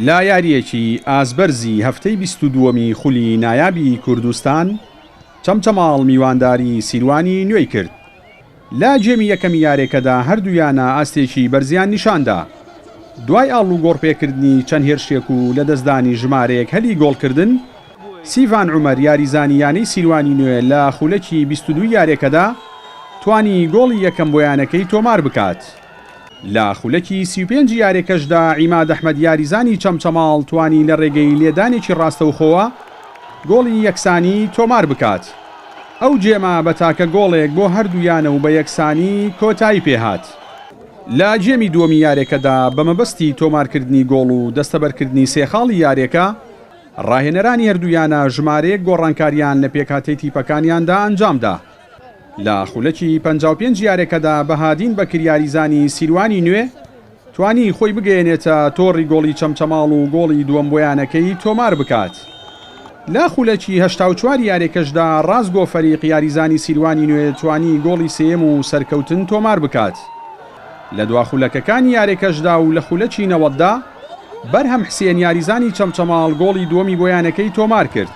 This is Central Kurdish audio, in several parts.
لە یارییەکی ئازبەرزی هەفتەی بیست و دووەمی خولی نایابی کوردستان، چەمچەماڵ میوانداری سیروانی نوێی کرد، لە گێمی یەکەمی یارێکەدا هەردوو یانە ئاستێکی بەرزیان نیشاندا، دوای ئاڵوگۆڕپێکردنی چەند هێرشێک و لەدەستدانی ژمارەیەک هەلی گۆڵکردن، سیڤان عومەر یاریزانی یانەی سیروانی نوێ لە خولەکی بیست و دوو یاریەکەدا توانی گۆڵی یەکەم بۆ یانەکەی تۆمار بکات، لە خولەکی سی و پێنج یاریەکەشدا عیماد ئەحمەد یاریزانی چەمچەماڵ توانی لە رێگەی لێدانێکی راستەوخۆوە گۆڵی یەکسانی تۆمار بکات، ئەو گێمە بە تاکە گۆڵێک بۆ هەردوو یانە و بە یەکسانی کۆتایی پێهات. لە گێمی دووەمی یاریەکەدا بە مەبەستی تۆمارکردنی گۆڵ و دەستەبەرکردنی سێ خاڵی یاریەکە راهێنەرانی هەردوو یانە ژمارەیەک گۆڕانکارییان لە پێکهاتەی تیپەکانیاندا ئەنجامدا، لە خولەکی پەنجا و پێنج یارەکەدا بەهادین بەکر یاریزانی سیروانی نوێ توانی خۆی بگەیەنێتە تۆڕی گۆڵی چەمچەماڵ و گۆڵی دووەم بۆ یانەکەی تۆمار بکات، لە خولەکی هەشتا و چوار یارەکەشدا رازگۆ فەریق یاریزانی سیروانی نوێ توانی گۆڵی سێیەم و سەرکەوتن تۆمار بکات لە دوا خولەکەکانی یارەکەشدا و لە خولەکی نەوەددا. بەرهەم حسێن یاریزانی چەمچەماڵ گۆڵی دووەمی بۆ یانەکەی تۆمارکرد.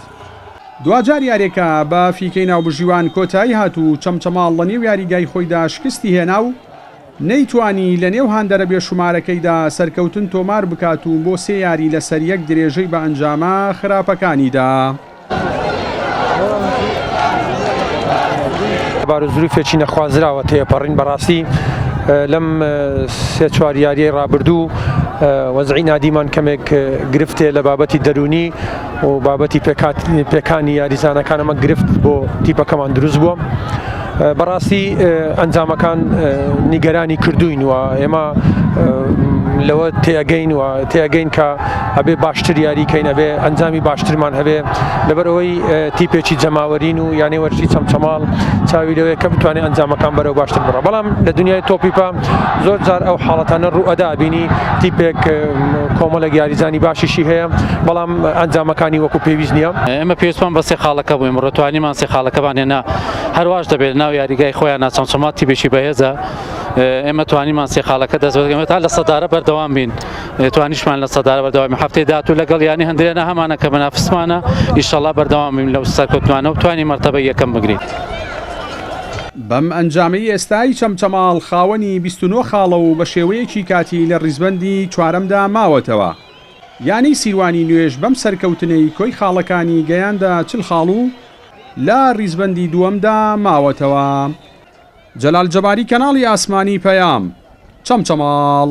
دواجار یاریەکە بە فیکەی ناوبژیوان کۆتایی هات و چەمچەماڵ لە نێو یاریگای خۆیدا شکستی هێنا و نەیتوانی لە نێو هاندەرە بێ شومارەکەیدا سەرکەوتن تۆمار بکات و بۆ سێ یاری لەسەریەک درێژەی بە ئەنجامە خراپەکانی دا. بار و زروفێکی نەخوازراوە تێپەڕین بەڕاستی لەم سێ چوار یاریەی ڕابردوو وەزعی نادیمان کەمێک گرفتێ لە بابەتی دەرونی و بابەتی پێکات پێکانی یاریزانەکانەمە گرفت بۆ تیپەکەمان دروست بووە. بەڕاستی ئەنجامەکان نیگەرانی کردوین و ئێمە لەوە تێگەین و تێگەین کە ئەبێ باشتر یاریکەین ئەبێ ئەنجامی باشترمان هەبێ لەبەرەوەی تیپێکی جەماوەرین و یانەی وەرشی چەمچەماڵ چاوی لەوەیە کە بتوانێت ئەنجامەکان بەرەو باشتر بڕە بەڵام لە دنیای تۆپیپە زۆر جار ئەو حاڵەتانە ڕوو ئەدا بینی تیپێک کۆمەلە یاریزانی باشیشی هەیە بەڵام ئەنجامەکانی وەکو پێویست نییە ئێمە پێویستمان بەسێ خاڵەکە بووین ڕێتوانیمان سێ خاڵەکەمان هێنا هەرواش دەبێت لە ناو یاریگای خۆیان چەمچەما تیبێکی بەهێزە ئێمە توانیمان سێ خاڵەکە دەست بەگەمە تا لە سەدارە بەردەوام بین توانیشمان لە سەدارە بەردەوامی هەفتەی داات و لەگەڵ ینی هەندێنە هەمانە کە بەنافسمانە ئیشەڵا بەردەوام بین لەو سەرکەوتمانە و توانی مەرتەبە یەکەم بگرین. بەم ئەنجامەی ئێستای چەمچەماڵ خاوەنی 29 خاڵە و بە شێوەیەکی کاتی لە ڕیزبەندی چوارەمدا ماوەتەوە. یانەی سیروانی نوێژ بەم سەرکەوتنەی کۆی خاڵەکانی گەیاندە چل خاڵ و لە ڕیزبەندی دووەمدا ماوەتەوە. جەلال جەباری کەناڵی ئاسمانی پەیام. چەمچەماڵ.